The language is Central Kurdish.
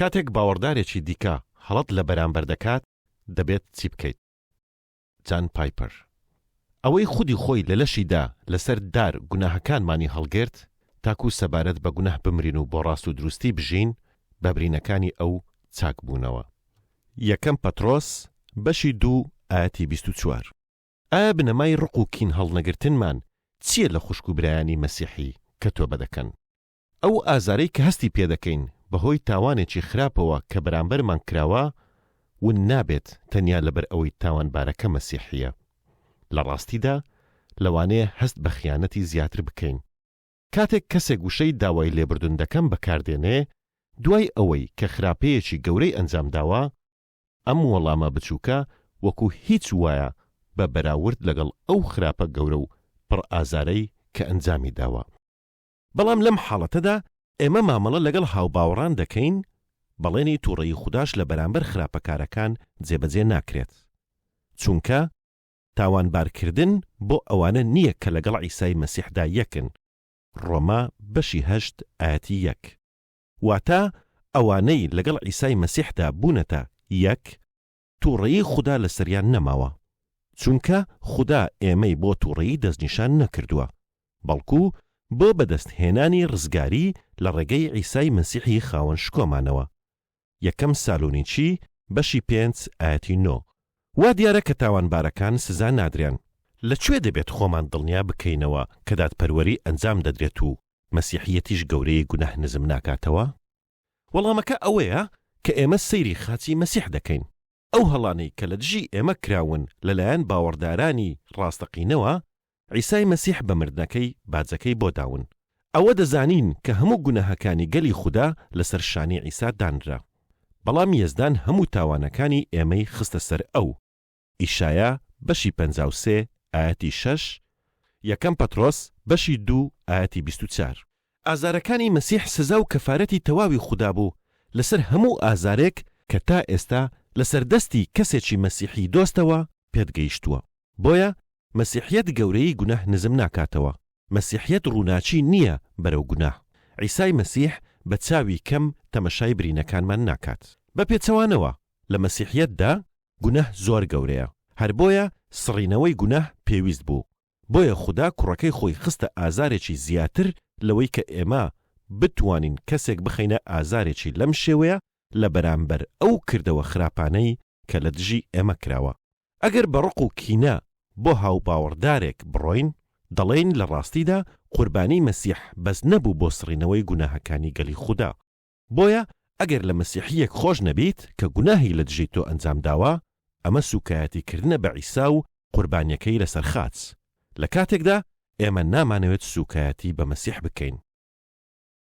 کاتێک باوەڕدارێکی دیکە هەڵەت لە بەرامبەر دەکات، دەبێت چی بکەیت؟ جان پایپەر، ئەوەی خودی خۆی لە لەشیدا لەسەر دار گوناهەکانمانی هەڵگرت، تاکو سەبارەت بە گوناه بمرین و بۆ ڕاست و دروستی بژین، بە برینەکانی ئەو چاک بوونەوە. یەکەم پەترۆس بەشی دوو ئایەتی بیست و چوار. ئایا بنەمای ڕق و کین هەڵنەگرتنمان چییە لە خوشک و برایانی مەسیحی کە تۆبە دەکەن؟ ئەو ئازارەی کە هەستی پێدەکەین بەهۆی تاوانێکی خراپەوە کە بەرامبەرمان کراوە، ون نابێت تەنیا لەبەر ئەوەی تاوانبارەکە مەسیحییە. لە ڕاستیدا، لەوانەیە هەست بە خیانەتی زیاتر بکەین. کاتێک کەسێک وشەی داوای لێبوردن دەکەم بەکار دێنێ، دوای ئەوەی کە خراپەیەکی گەورەی ئەنجام داوە، ئەم وەڵامە بچووکە وەکو هیچ وایە بە بەراورد لەگەڵ ئەو خراپە گەورە و پڕ ئازارەی کە ئەنجامی داوە. بەڵام لەم حاڵەتەدا ئێمە مامەڵە لەگەڵ هاوباوەڕان دەکەین، بەڵێنی تووڕەیی خوداش لە بەرامبەر خراپەکارەکان جێبەجێ ناکرێت، چونکە تاوانبارکردن بۆ ئەوانە نییە کە لەگەڵ عیسای مەسیحدا یەکن، ڕۆما بەشی هەشت ئایەتی یەک. واتە ئەوانەی لەگەڵ عیسای مەسیحدا بوونەتە یەک، توڕەیی خودا لەسەریان نەماوە، چونکە خودا ئێمەی بۆ توڕەیی دەستنیشان نەکردووە، بەڵکو بۆ بەدەست هێنانی ڕزگاری لە ڕێگەی عیسای مەسیحی خاوەن شکۆمانەوە، یەکەم سالونیچی بەشی پێنج ئایەتی نۆ. وا دیارە کە تاوانبارەکان سزا نادرێن. لە کوێ دەبێت خۆمان دڵنیا بکەینەوە کە دادپەروەری ئەنجام دەدرێت و مەسیحیەتیش گەورەی گوناه نزم ناکاتەوە؟ وەڵامەکە ئەوەیە کە ئێمە سەیری خاچی مەسیح دەکەین. ئەو هەڵانەی کە لە دژی ئێمە کراون لەلایەن باوەڕدارانی ڕاستەقینەوە، عیسای مەسیح بە مردنەکەی باجەکەی بۆ داون. ئەوە دەزانین کە هەموو گوناهەکانی گەلی خودا لەسەر شانی عیسا دانرا. بەڵام یەزدان هەموو تاوانەکانی ئێمەی خستە سەر ئەو. ئیشایا بەشی پەنجا و سێ ئایەتی شەش، یەکەم پەترۆس بەشی دوو ئایەتی بیست و چار. ئازارەکانی مەسیح سزا و کەفارەتی تەواوی خودا بوو لەسەر هەموو ئازارێک کە تا ئێستا لەسەر دەستی کەسێکی مەسیحی دۆستەوە پێت گەیشتووە، بۆیە مەسیحیەت گەورەیی گوناه نزم ناکاتەوە، مەسیحیەت ڕووناکی نییە بەرەو گوناه، عیسای مەسیح بە چاوی کەم تەمەشای برینەکانمان ناکات. بە پێچەوانەوە لە مەسیحیەتدا گوناه زۆر گەورەیە هەر بۆیە سڕینەوەی گوناه پێویست بوو بۆیە خودا کوڕەکەی خۆی خستە ئازارێکی زیاتر لەوەی کە ئێمە بتوانین کەسێک بخەینە ئازارێکی لەم شێوەیە لە بەرامبەر ئەو کردەوە خراپانەی کە لە دژی ئێمە کراوە ئەگەر بە ڕق و کینە بۆ هاوباوەڕدارێک بڕۆین دەڵێین لە ڕاستیدا قوربانی مەسیح بەس نەبوو بۆ سڕینەوەی گوناهەکانی گەلی خودا. بۆیە ئەگەر لە مەسیحییەک خۆش نەبیت کە گوناهی لە دژی تۆ ئەنجام داوە، ئەمە سووکایەتی کردنە بە عیسا و قوربانییەکەی لەسەر خاچ، لە کاتێکدا ئێمە نامانەوێت سووکایەتی بە مەسیح بکەین.